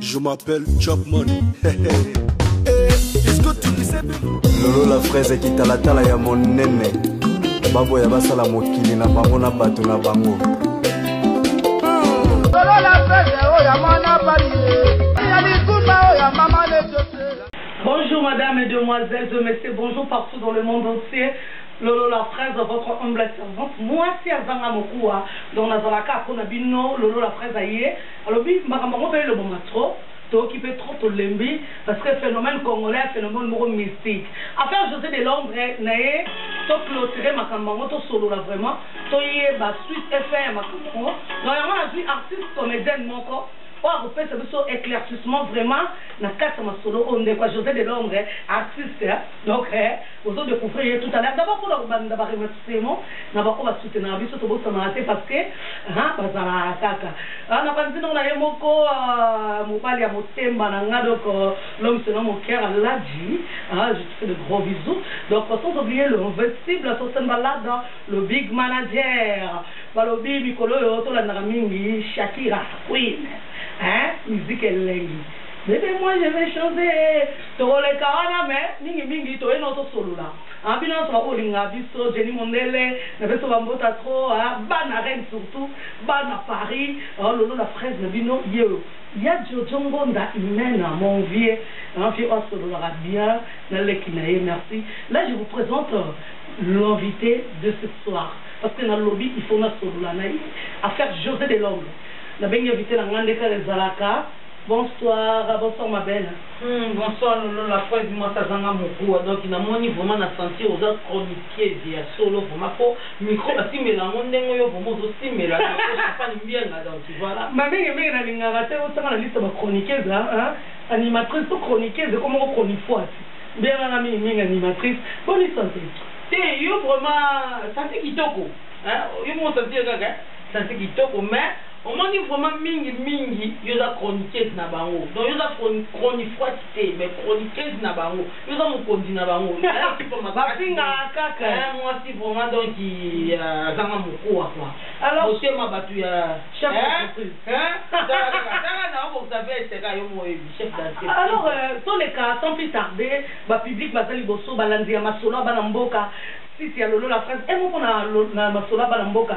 Je m'appelle Chapman. lolo la fraise kitalatala ya monene baboya basala mokili na bango na bato na bango lolo la fraise oyo ya mwana bali Bonjour madame et demoiselles, de messieurs, bonjour partout dans le monde entier. Lolo la fraise, votre humble servante. Moi, si Azanga Mokoua, dans Nazalaka, Konabino, Lolo la fraise, aïe. Alobi makambo yango pe elobama trop toyoki pe trop tolembi parce que phenomène congolais ya phenomène moko mystique affaire Jose de l'ombre naye to cloturer makambo yango tosolola vraiment toyeba suite et fin ya makambo yango donc yango nazui artiste comedienne moko oyo akopesa biso eclaircissement vraiment na kati ya masolo oyo ndeko ya Jose de l'ombre artiste donc Bozo decouvrir ye tout à l'heure d'abord pona kobanda ba remerciement na ba oyo ba soutenaka biso tobosanaka te parce que ahaa bazalaka kaka aah na panzi noko na ye moko aah mobali ya motemba na nga donc l'homme se nomme Oker Aladji aah je te fais de gros bisous donc sans oublier le invincible Sosten Balada le big manager balobi mikolo oyo tolandaka mingi Shakira Queen hein musique elengi bebe moi je vais chanter Tokoleka wana mais mingi mingi toye nao tosolola ah bino nionso ba bolinga biso Jenny mondele na pesi yo ba mbota trop ah bana reine surtout bana Paris ah lolo la fraise na bino ye oyo ya jojo ngonda hymen ah mon vieux ah vieux oyo asololaka bien na leki na ye merci là je vous presente l'invite de ce soir parce que na lobi il faut na solola na ye affaire Jose de l'homme na bengi invite na nga nde kaka ezalaka bonsoir bonsoir ma belle Hum bonsoir lolo la foi dit moi kazanga mokuwa donc na moni vraiment na sentir oza chroniqueuse ya solo vraiment po micro ba simbela yango ndenge yo vraiment ozo simbela na ko champagne mbienga donc tu vois là ma mingi mingi na lingaka te otanga na liste ba chroniqueuse hein animatrice to chroniqueuse ko moko chronifuati mbienga na mingi mingi animatrice bonne santé te yo vraiment santé kitoko hein yo mo santé kaka santé kitoko mais Omoni vraiment mingi mingi yo oza chroniqueuse na bango donc yo oza chronifwati te mais chroniqueuse na bango yo oza mokonzi na bango nayo esupa makasi eeh mwasi vraiment donc azanga mokuwa quoi motema batu ya eeh tala kaka tala na obongisa veste kaka yo moko oyebi chef d'entreprise alors toleka sans plus tarde ba public baza liboso balandi ya masolo ya bana mboka site ya lolo la france un mot pona masolo ya bana mboka.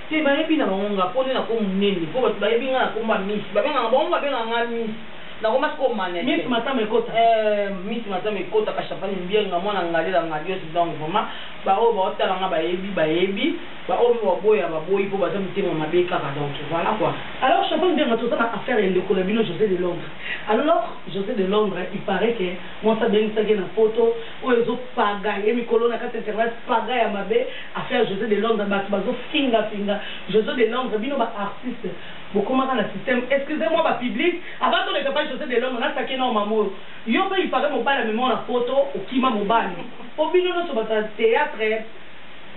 Te bayebi na bango nga po nde na ko munene po batu bayebi nga na kombo ya miss ba benga nga bango ba benga nga miss na koma sikoyo mannequin miss matama ekota eh miss matama ekota ka champagne mbienga mwana ngalela ngadios donc vraiment ba oyo bao tala nga bayebi bayebi ba oyo pe bao boya ba boyi po baza mitema mabe kaka donc voilà quoi. Alors champagne mbienga toza na affaire ya ndeko na bino Jose de Londres alors Jose de Londres il parait que mwasi abengisaki ye na poto oyo ezo paga ye mikolo na kati internet paga ya mabe Affaire Jose de Londres batu bazo finga finga Jose de Londres bino ba artistes bokomaka na système excusez moi ba public avant toleka epai Jose de Londres na taquet nao maman oyo yo pe il parait mobali amemao na poto okima mobali po bino nionso batu ya theatre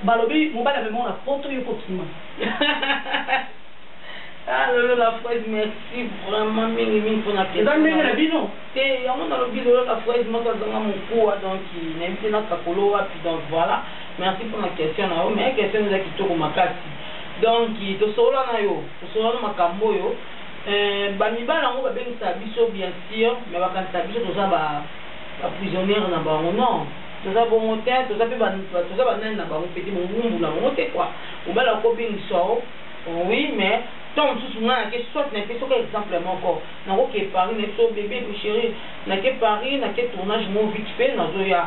balobi mobali amemao na poto yo pe okima Ah lolo la fraise merci vraiment mingi mingi pona question. Eza ndenge na bino? Te yango nalobi lolo la fraise moko azanga mokuwa donc nayebi te nakakolo wapi donc voilà. Merci pona question na yo mais question eza kitoko makasi donc tosolola na yo tosolola na makambo oyo euh, bamibali yango babengisaka biso bien sûr mais bakanisaka biso toza ba baprisonniere na bango non toza bongo te toza mpe toza banani na bango mpe te bongumbu na bango te kua mobali akobengisa o oh oui mais ntango mosusu ngai nake soit nake soki exemple moko nakoke paris nayebi so bebe ko chéri nake paris nake tournage mo vite fait nazoya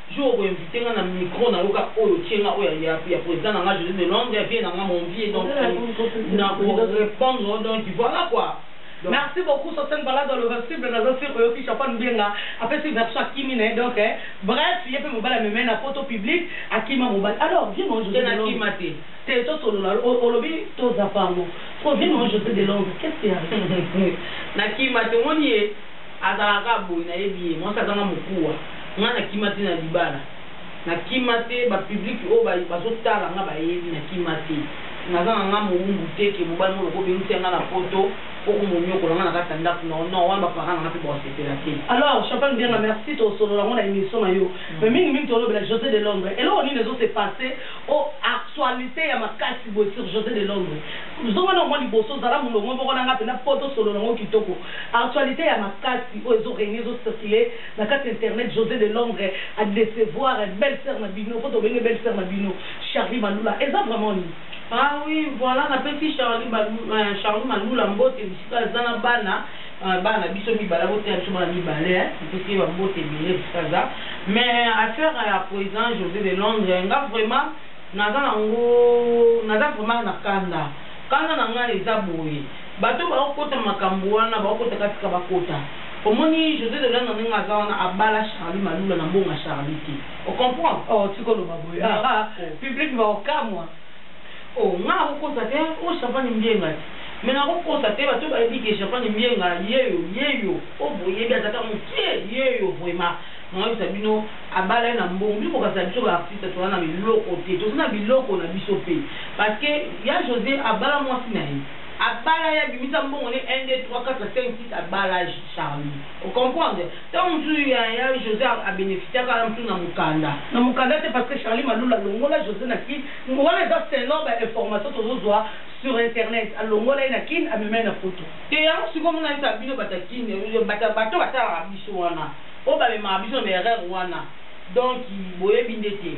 Jour oko invite nga na micro na yo kaka oyo otie nga oyo ya ya president na nga Jose de Londres vie na nga mon vie donc na ko repondre yo donc voila quoi. Merci beaucoup Sosen Balado le Invincible naza sur oyoki Chapa Lubenga apesi version akimi na ye donc bref ye pe mobali amema ye na poto public akima mobali alors vie na yo Jose de Londres. Te nakima te. Te tosolola olobi tozapa yango sikoyo vie na yo Jose de Londres qu'est ce qui arrive? Nakima te omoni ye. Azalaka kaka boye nayebi ye mwasi azanga mokuwa nga na kima te na libala na kima te ba public oyo bazo tala nga bayebi na kima te naza na nga mowumbu te ke mobali moko obengisi ya nga na poto po omoniokola nga na kati ya ndaku na yo non wana ba parents na nga pe bako sepela te. Alors champagne bianga merci to solola ngo na emission na yo mais mingi mingi to lobela jose de londre eloko nini ezo se passe o actualite ya makasi boye sur jose de londre zonga nao mwa liboso zala mulongo moko na nga pena po to solola ngo kitoko Actualite ya makasi oyo ezo regner ezo circuler na kati ya internet Jose de Londres a decevoir belle sœur na bino po tobenge belle sœur na bino Charly Malula eza vraiment nini? Ah oui voilà na pesi Charly balula eh Charly malula mbote bisika aza na bana eh bana na biso mibale ako teya biso bana mibale eh na pesi ye ba mbote ebele bisika aza mais affaire ya president Jose de Londres nga vraiment naza nango naza vraiment na kanda kanda na nga eza boye Bato oyo bako kota makambu wana bako kota kaka tika bakota omoni Jose de londre ndenge aza wana abala Charly malula na bonga Charly te o comprendre. Oh tika oloba boye ah ah public bako kamwa. Oh nga nako kosa te hein oh champagne mbienga te mais nako kosa te bato bayebi ke champagne mbienga yeyo yeyo oh boyebi aza ka mukie yeyo vraiment nako yebisa bino abala ye na mbongo bino bokanisa biso ba artiste toza na biloko te toza na biloko na biso pe parce que ya Jose abala mwasi naye Abala ye abimisa mbongo ne un deux trois quatre cinq six abala Charly o comprendre tango mosusu yaya Jose a beneficiaka wana mosusu na mukanda. Na mukanda te parce que Charly malula alongola Jose na kin wana eza selon ba information tozo zua sur internet alongola ye na kin amema ye na poto. Te yango sikoyo omona esa bino bato ya kin bato bato batalaka biso wana oyo bamemaka biso na ba erreur wana donc boyebi nde te.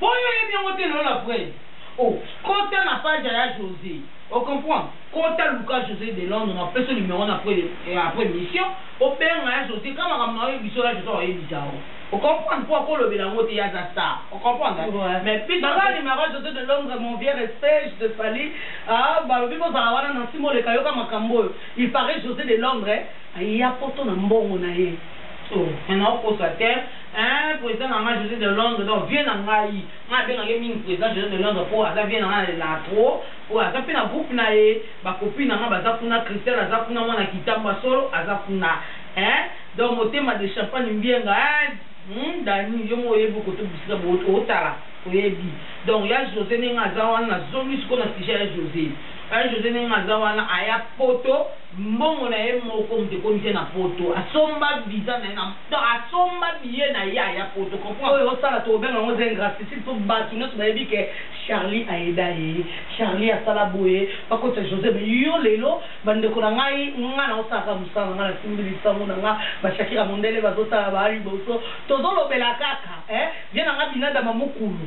Po yo oyebi yango te lola vraie oh kota na page ya ya Jose o comprend kota luka Jose de Londres na pesa yo numero na après après emission obenga ya Jose ka makambo na yo oyebi biso ya Jose ako yebisa yo o comprend po ako lobela yango te ye aza star o comprend hein mais biso na nga numero ya Jose de Londres mon vieux respect je te salut ah balobi ko zala wana Nancy Moleka yoka makambo oyo il parait Jose de Londres aya poto na mbongo na ye oh mais nao kosa te. Eeh president na nga Jose de Londres donc vieux na ngai nga na bengaka ye mingi president Jose de Londres po aza vieux na nga na lelaka trop po aza pe na groupe na ye ba copine na nga baza kuna Christelle aza kuna mwana kitambo ya solo aza kuna eeh donc motema de champagne mbienga eeh hum Dany yo moko oyebi kote bisika bo otala oyebi donc ya Jose ndenge aza wana na zongi sikoyo na sujet ya Jose ya Jose ndenge aza wana aya poto mbongo na ye moko mutu ekomisi ye na poto asomba visa na ye na donc asomba billet na ye aya poto comprend. Oyo osala toko benga yango eza ingracitide po batu nionso bayebi ke Charly aida ye Charly asala boye bakotisa Jose mais yo lelo ba ndeko na ngai ngai nazo sala kaka musala na ngai na simbi lisangu na ngai ba Shakira mundele bazo tala ba liboso tozo lobela kaka eh vieux na ngai binadama mukulu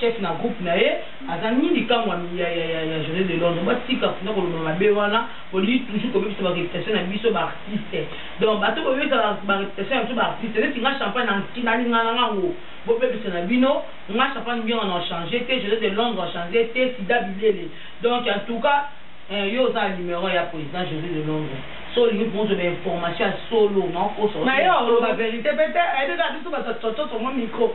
Chef na groupe na ye aza nini kamwa ya ya ya ya journée de Londres ba tika kuna ko loba mabe wana au lieu toujours ko bebisa ba réputation na biso ba artistes donc bato ko bebisa ba réputation na biso ba artistes neti nga champagne na na linga na nga ngo bo bebisa na bino nga champagne mbiongo na changer te journée de Londres na changer te sida bilele donc en tout cas eh, yo oza numéro ya président journée de Londres so olingi mpo ozwa bainformation ya solo naokosa na yo oloba verité mpe te ayebi kaka biso bato ya cococo mwa micro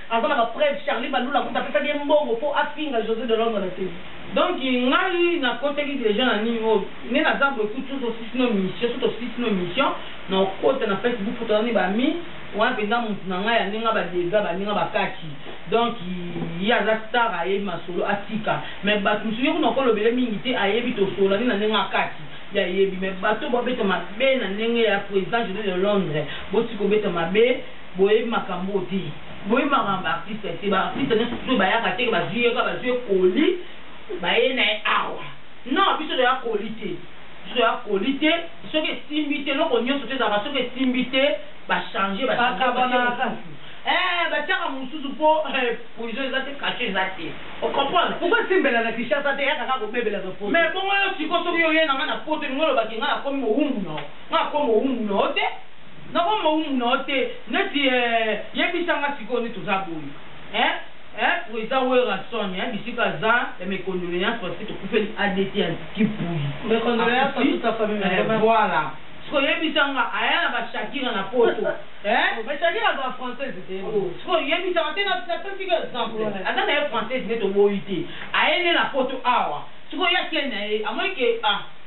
Aza na ba preuves Charly Balula kutu apesaki ye mbongo po afinga Jose de Londres na tele. Donc ngai na kotaki dejà na nini oyo nde naza boye kutu soki tosilisi no mission soki tosilisi no mission na okota na Facebook po toza ni ba ami wana penza mutu na ngai ande nga ba degat bandi nga ba kati donc ye aza star ayebi masolo atika mais batu mususu ye kuna okolobele mingi te ayebi tosolani na ndenge akati ye ayebi mais batu oyo babeta mabe na ndenge ya president Jose de Londres botika obeta mabe Boyebi makambu oyo te. Boyebi makambo ya ba artistes te. Ba artistes nionso biso bayaka te que bazui ye kaka bazui ye colis baye na ye awa. Non biso toya colis te. Biso toya colis te. Soki esimbi te eloko nionso to ezalaka soki esimbi te ba changer ba changer ba tie mosusu. Eeh batiaka mosusu po prison eza te cache eza te. O comprendre? Pourquoi esimbela na Kinshasa te eyaka kaka kobebela na poto. Mais bongo yo sikoyo soki yo oye na nga na poto olingi oloba que nga nakomi mowumbu na yo? Nga nakomi mowumbu na yo te. Nako mowumbu na yo te neti eh Yebisa nga sikoyo neti oza boye eh eh President Werrason eh bisika aza eh Mes condoleances parce que tokufeli adt ya Kipuyi Mes condoleances à toute sa famille Akufi eh Voilà Sikoyo yebisa nga aya na ba Shakira na poto eh Mais Shakira azala française te oh Sikoyo yebisa nga te na pesi yo exemple aza na ye française neti oboyi te Aye nde na poto awa Sikoyo ye akei na ye amoni ke ah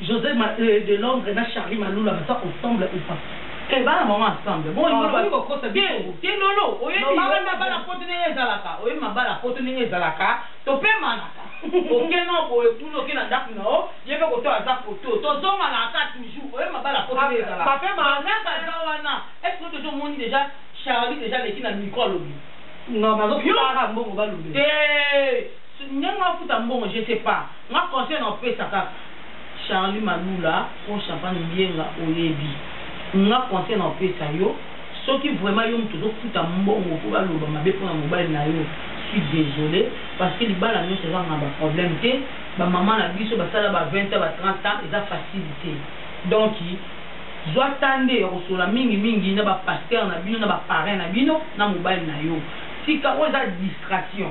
Jose ma euh, de Londres na Charly Malula baza ensemble ou pas? Eh bana maman ensemble. Bon olingi loba ko kosa biso. Te lolo oyebi yo na bana poto ndenge ezalaka. Oyebi ma bana poto ndenge ezalaka. To pe manaka. Oke no bo ekulu oke na ndaku na o. Ye pe koto aza poto. To zonga na aka toujours. Oyebi ma bana poto ndenge ezalaka. Papa ma naka za wana. Est ce que tozo moni deja Charlie deja leki na micro lobi. Non bazo fara mbongo ba lobi. Te ndenge afuta mbongo je sais pas. Nga conseil nao pesa kaka Charly malula rhum champagne mbienga oyebi nga conseil nao pesa yo soki vraiment yo mutu ozo futa mbongo po ba loba mabe pona mobali nayo suis desole parce que libala nionso eza kaka na ba problème te ba maman na biso ba sala ba 20 ans ba 30 ans eza facile te donc zua temps nde yako solola mingi mingi na ba pasteur na bino na ba parrain na bino na mobali nayo tika oyo eza distraction.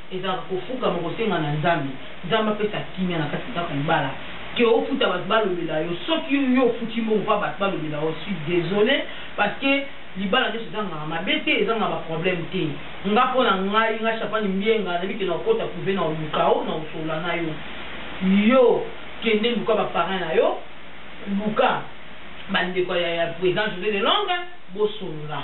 Ezalaka kofukama kosenga na Nzambe, Nzambe apesa kimia na kati ya ndako libala que ofuta batu balobela yo soki yo yo ofuti mbongo pona batu balobela yo suis desole parce que libala nionso ezangaka mabe te ezangaka ba problème te nga pona ngai nga Shafany Mbienga nayebi que nakokota prive na oluka yo na kosolola na yo yo kende luka ba parrain na yo luka ba ndeko ya ya president Jose de Londres bosolola.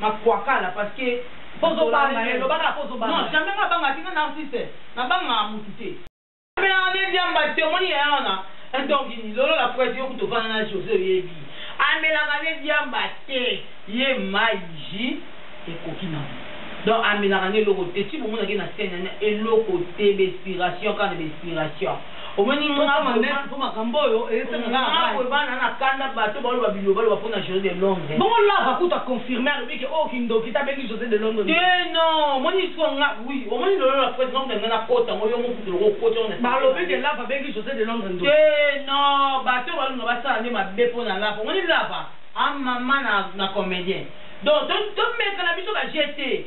Na kwakala parce que Ozo banga ye loba kaka ozo banga ye. Non jamais nga banga te nga narcisse na bangaka mutu te. Merlin diamba te omoni yaya wana un don gini lolo la fouette yo kutu ovanda na Jose oyebi amelaka nde diamba te ye mayi jus ekoki na ngo donc amelaka nde eloko te ti bomonaka ye na scène na eloko te ba expiration kaka na ba expiration. Omoni nga vraiment na kanda bato baloba biloba loba pona Jose de Londres. Bongo lava kutu a confirme alobi ke oyo oh, kindoki ta bengi Jose de Londres. Te eh, non, omoni siko nga oui, omoni lolo la presse nga nga na kota ngo yo mo kutu loko kota na. Ba lobi ke lava bengi Jose de Londres ndo. Te eh, non, bato balunga basala nde mabe pona lava. Omoni lava a ah, mama na na comedien. Donc to to meka na biso ba jete.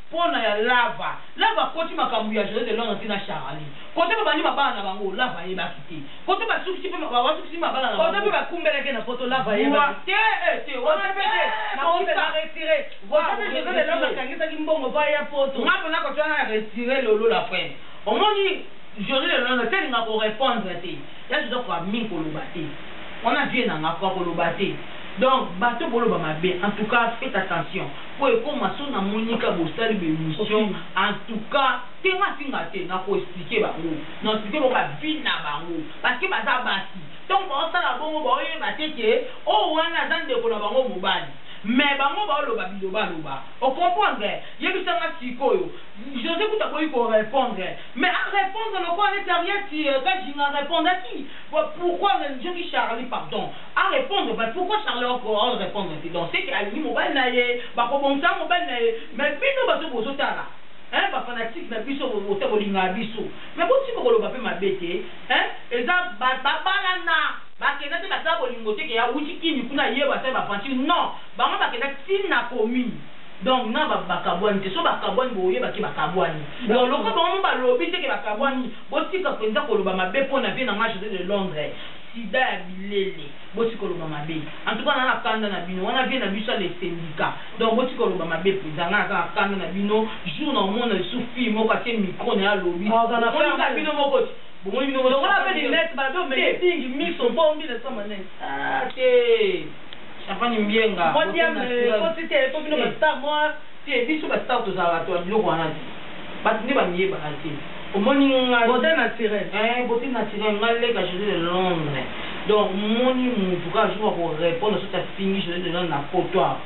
Pona ya lava lava akoti makambu ya jose de londre ti na charali kote ba bandi mabala na bango lava ayebaki te kote ba sukisi pe ba sukisi pe mabala na bango kote pe ba kumbelaki ye na poto lava ayebaki te eh te wana pe te na poto na retire kote pe jose de londre akangisaki mbongo po aya poto nga pona kote wana na retire lolo la prene omoni jose de londre te alinga ko repondre te ya jose akoka mingi koloba te wana vie na nga akoka koloba te donc bato boloba mabe en tout cas fete attention. Po ekoma soki na moni ka bosali ba emission en tout cas te nga si nga te na ko explique bango na explique bango ba vie na bango parce que baza basi tangu bao sala bongo bao yeba te que oyo wana aza ndeko na bango mobali mais bango bao loba biloba loba o comprendre yebisa nga sikoyo Jose kutu aboyi ko repondre mais a repondre lokola neti Harriet kajinga a repondaki pourquoi nzoki Charly pardon A repondre but pourquoi Charle oko on repondre te donc ce que alingi mobali na ye bako bongisa na mobali na ye mais bino bato bozo tala hein ba fanatique na biso bota bolingaka biso mais bo tika koloba pe mabe te hein eza ba balana ba kenda te basala bolingo te ke awuti kin kuna aye basali ba aventure non bango ba kenda ti na commune donc na ba ba kabuani te soki ba kabuani boko yeba ke ba kabuani donc lokola bango moko ba lobi te ke ba kabuani bo tika penza koloba mabe pona vie na nga Jose de Londres Sida ya bilele botika koloba mabe en tout cas naza na kanda na bino wana vie na biso ya les syndicats donc botika koloba mabe penza nga naza na kanda na bino jour na omona lisusu fille moko atie micro naye alobi bomoni ka bino moko ti bomoni bino moko ti champagne mbienga bote na sirène te. Te biso ba star tozalaka batu ya biloko wana te batu nde ba miyebaka te omoni ngai Beaute naturelle. Eeh beaute naturelle ngai leka Jose de Londres donc omoni mutu kaka jour ako repondre soit afingi Jose de Londres na poto awa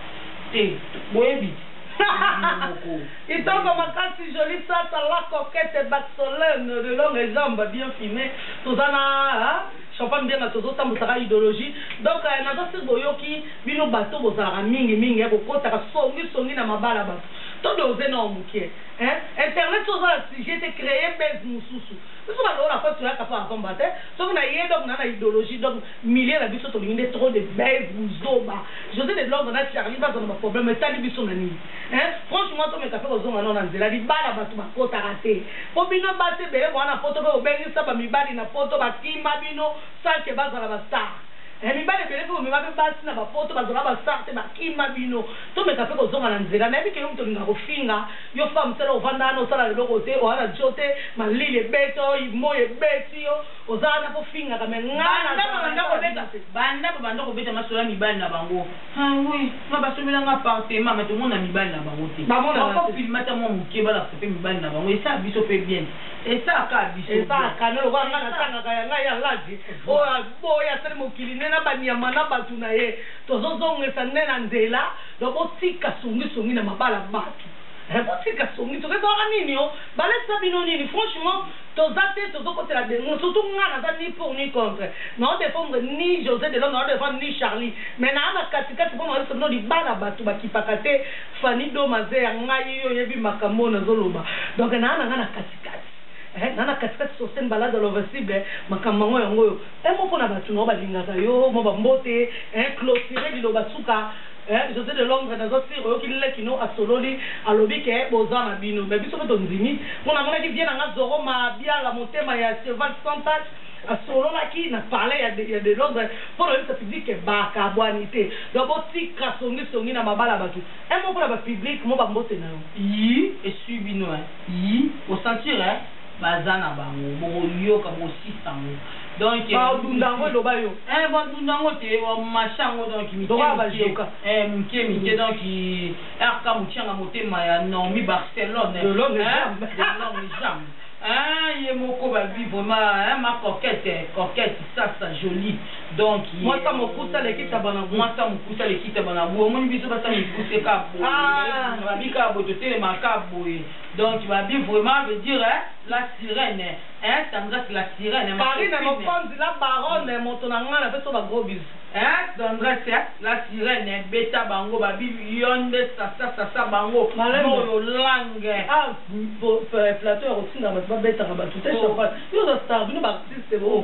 te boyebi bino moko Kitoko makasi jolie sata la coquette Barcelone de longue jambe bien fine toza na Champagne mbianga tozo tambusaka idologie donc naza sur boyoki Bino bato bozalaka mingi mingi hein kokotaka songi songi na mabala bato to dose nao mukie hein internet soki oza na sujet te cree buzz mususu biso ba lola fa toyaka pa avant ba te soki na ye donc na na idologie donc milieu na biso tolingi nde trop de buzz buzoba Jose de Londres na Charly baza na ba problème etali biso na nini hein franchement tomeka pe kozonga nao na nzela libala bato ba kotaka te po bino basi ebele boa na poto pe bobengisa ba mibali na poto ba kima bino sans que bazala ba star Eh mibali ebele pe bomema pe basi na ba poto bazalaka ba star te ba kima bino tomeka pe kozonga na nzela nayebi ke yo mutu olingaka kofinga yo femme seule ovanda wana osala eloko te oza na djo te malili ebeta yo moyi ebeti yo oza wana pe ofingaka mais nga nazalaka na banda kobeta te banda ba banda kobeta masolo ya mibali na bango ah oui nga ba sombela nga appartement mais tomona mibali na bango te ba monana te ko filme ata mua mukie ba lakisa pe mibali na bango esala biso pe bien te esala ka biso bien esala ka lokola nga na tangaka ya nga ya ladi oyo Bo oyo asali mokili nde na ba nyama na batu na ye tozo zongesa nde na nzela donc bo tika songi songi na mabala batu eh bo tika songi songi ezalaka nini oh ba lakisa bino nini franchement toza te tozo kotela benguna surtout nga naza ni pour ni contre nao defendre ni Jose de londre nao defendre ni Charly mais naa na kati kati pona lakisa bino libala batu ba kipaka te Fanny doma ze ya ngai yo oyebi makambo oyo nazo loba donc naa nanga na kati kati. eh nga na kati kati Sosten Balaza Lovasible makambo mango yango oyo eh moko na batu nao balingaka yo mwa ba mbote eh cloture liloba suka eh Jose de Londres naza sur oyoki leki no asololi alobi ke boza na bino mais biso pe tondimi po namonaki vieux na nga Zorro Mabiala motema ya cheval sans tache asololaki na palais ya de, ya de Londres po na oyebisa public ke bakabwani te donc botika songi songi na mabala batu eh moko na ba public mwa ba mbote nayo. Yii esui bino hein. Yy o sentir eh baza na bango bokoyoka bokosisa ngo donc ba dunda ngo eloba yo eh ba dunda ngo te ba macha ngo donc mike mike eh mike mike donc RK muchanga motema ya Normie Barcelone de l'homme jamais eh ye moko ba bi vraiment eh ma coquette coquette sasa jolie Donc ye. Mwasa mokusa lekisa bana bu. Mwasa mokusa lekisa bana bu. Omoni biso basa mikuse ka boye. Ah. Na babi ka boye totelema ka boye. Donc babi vraiment veut dire hein, la sirène. Hein, Sandras la sirène. Carine mokonzi la baronne moto na nga na pesa ba gros bisous. Hein, Sandras hein, la sirène beta bango babi yonde sasa sasa bango. Moyo langue. Ah, plateau ya kotinda bato babetaka bato te champagne. Yo za star bino ba artiste bo.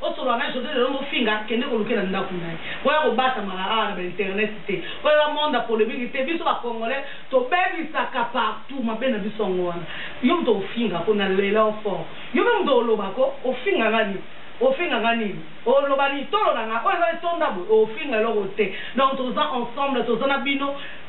Osolola na Jose lelo mofinga kende koluke na ndaku naye boya kobatamaka awa na ba internet te po eza monde ya polemique te biso ba congolais tobebisaka partout mabe na biso yango wana yo mutu ofinga ko na lela yo fort yo pe mutu oloba ko ofinga nga nini ofinga nga nini oloba nini tolo na nga oyo eza etonda boye ofinga eloko te donc toza ensemble toza na bino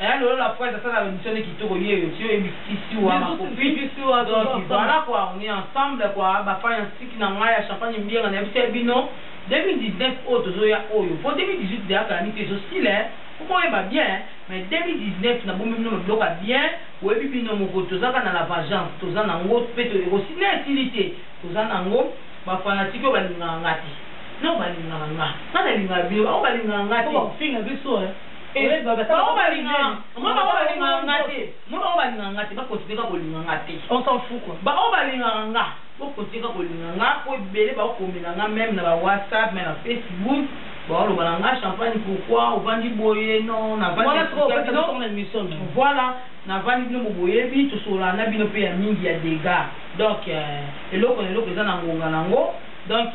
Eeh lolo la fois asala emission nde kitoko yeyo ti oyebi fisi wa ma copine donc voilà quoi on est ensemble quoi ba fan ya nsiki na ngai ya champagne mbienga nayebisaki bino 2019 oyo tozoya oyo po 2018 dejà calamite ezo sila eh po boyeba bien mais 2019 na bombi bino ba biloko ya bien boyebi bino moko toza kaka na la vagence toza na ngo pe to ekosi na esili te toza na ngo ba fanatique oyo balingaka nga te non balingaka nga nga nalingaka bino bango balingaka nga te po bakofinga biso eh Bango balingaka moi bango balingaka nga te moi bango balingaka nga te ba continuer kaka kolinga nga te on s'en fout quoi ba oyo balingaka nga bo continuer kaka kolinga nga po ebele ba komela nga meme na ba whatsapp meme na facebook ba loba na nga champagne pourquoi ovandi boye non na vandi wana soko opesa biso na mission non voilà na vandi bino mo boyebi to sola na bino pe ya mingi ya dega donc euh, eloko na eloko eza na ngonga na ngo donc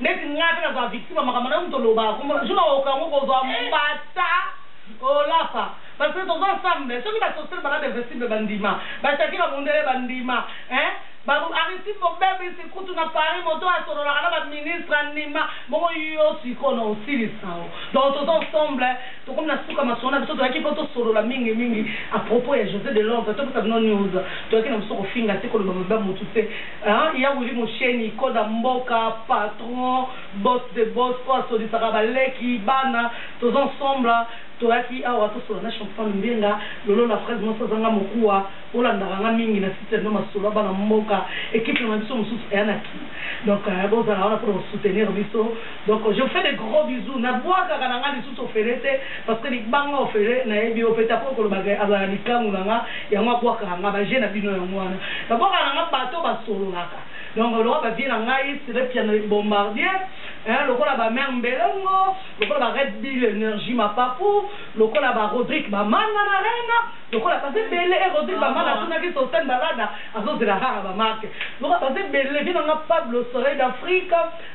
Neti nga pe nazala victime ya makambo nayo mutu olobaka kombo nayo jour nakokoka ngo kozwa mbata olafa parce que toza ensemble soki ba societe ba rade vestible ba ndima ba shakira mundele ba ndima hein ba aristide mobebisi kutu na paris moto oyo asololaka na ba ministre andima bongo yo sikoyo na osilisa yo donc toza ensemble tokomi na suka masolo na biso toyaki po tosolola mingi mingi à propos ya jose de londre topesa bino news toyaki na biso kofinga te koloba mabe ya mutu te Hein ya Willy Musheni koda mboka patron boss de boss oyo asolisaka ba leki bana toza ensemble toyaki awa tosolola na champion mbenga lolo la fraise mwasi azanga mokuwa olandaka nga mingi na site no masolo ya bana mboka equipe na biso mosusu eya na kin donc bozala wana pona ko soutenir biso Donc je fais des gros bisous na buakaka na nga lisusu ofele te parce que libanga ofele na yebi yo pe ta ko koloba ke azala na likangu na nga yango abuakaka nga ba jeux na bino yango wana na buakaka na nga bato ba sololaka donc lokola ba vieux na ngai sire piano le bombardier hein lokola ba mère mbelongo lokola ba red bill energie ma papu lokola ba rodrigue ba manga na rena lokola baza ebele e rodrigue ba manga atunaki sosten balada azozela kaka ba marque lokola baza ebele vieux na nga pablo soleil d'afrique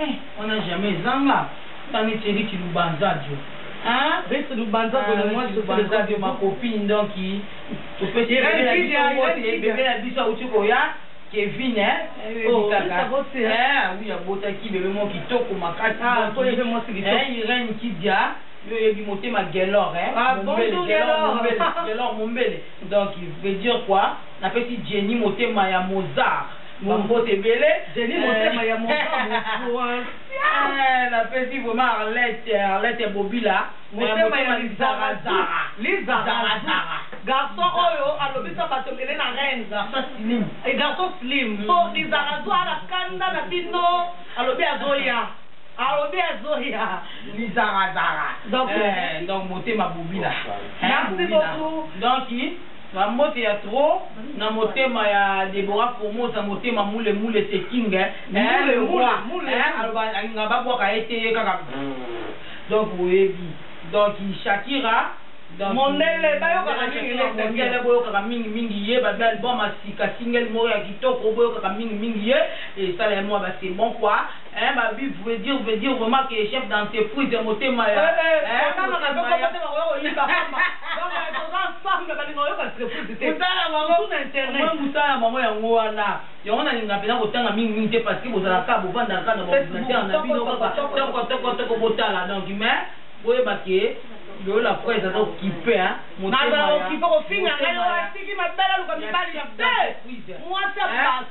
Eh wana jamais ezanga nga neti Eric lubanzadio hein. Eric lubanzadio le mois sur les audio ma copine donc topesi bebe na biso awuti koya Kevin eh oh oui abotaki bebe moko kitoko makasi ah, eh, Irène Kidia yo oyebi motema gelor eh. ah, gelor mombele donc veut dire quoi napesi jenny motema ya mozart Ba mbote ebele. Denis motema ya mongabo. Eh, na pesi vraiment Arlette, Arlette Bobila. Motema ya lizara zara. Lizara zara. Garçon oyo alobisa bato ebele na reine. Garçon slim. Et garçon slim. Mm. So lizara zwa na kanda na bino alobi azoya. alobi azoya lizara zara donc eh, donc motema bobila merci beaucoup donc Ba mbote ya trop na motema ya Deborah Formosa motema mule mule c'est king hein mule le roi hein aloba alingaka ba bwaka ye te ye kaka donc boyebi donc Shakira donc mondele ba yokaka mingi les singles bo yokaka mingi mingi ye ba album ya sika single moko ya kitoko bo yokaka mingi mingi ye esala ye mua ba c'est bon quoi Eeh ba bi vue dire veut dire vraiment que chef d'entreprise motema ya eeh motema ya mutala bango au moins mutala bango yango wana yango na linga pena ko tanga mingi mingi te parce que bozala ka bo vanda ka na ba ordinateur na bino kaka toko toko toko botala donc mais boyeba ke yo la presse aza okipe hein motema ya motema ya chef d'entreprise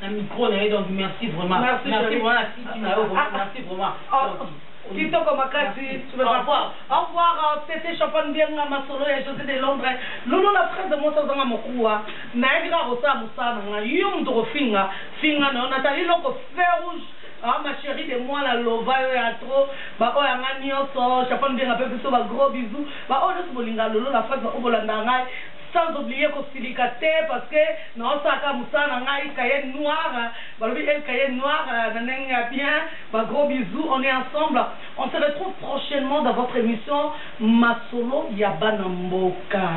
na micro na ye donc merci vraiment merci vraiment na site na yo vraiment merci vraiment kitoko makasi au revoir tete champagne bianga masolo ya josé de londres lulu na fraise mwasi azanga mokuwa nayebi kaka kosala mosala na ngai yo moto kofinga finga na yo natali loko fer rouge Ah, ma chérie de moi, la lova, yo ya trop. Ba oyo anga nioso, chapan bien ngape biso ba gros bisous. Ba oyo nioso bolinga lolo la face ba oyo bolanda ngai. Sans oublier ko silika te parce que nao sala kaka musala na ngai cahier noir balobi el cahier noir na ndenge ya bien ba gros bisous on est ensemble on se retrouve prochainement dans votre emission masolo ya bana mboka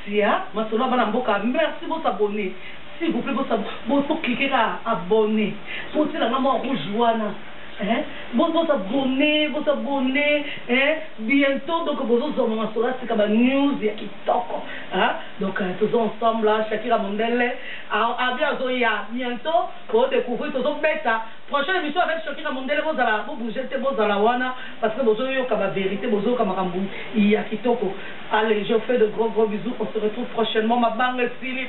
sia masolo ya bana mboka merci bo s'abonner s'il vous plait bo s'abonner bo bo cliquer kaka abonner bo tiela nga mua rouge wana hein bo bo s'abonner bo s'abonner hein bientot donc bozo zua mua masolo ya sika ba news ya Kitoko hein donc toza ensemble hein Shakira mondele Abi azo ya bientot boko decouvrir tozo beta prochaine emission avec Shakira mondele bozala bo bouger te bozala wana parce que bozo yoka ba verite bozo yoka makambu ya kitoko allez je vous fais de gros gros bisous on se retrouve prochainement mabanga esili.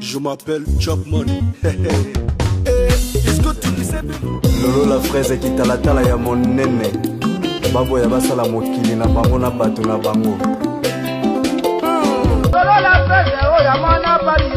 Je m'appelle Chapman. lolo la fraise kitalatala ya monene baboya basala mokili na bango na bato na bango lolo la fraise oyo ya mwana bali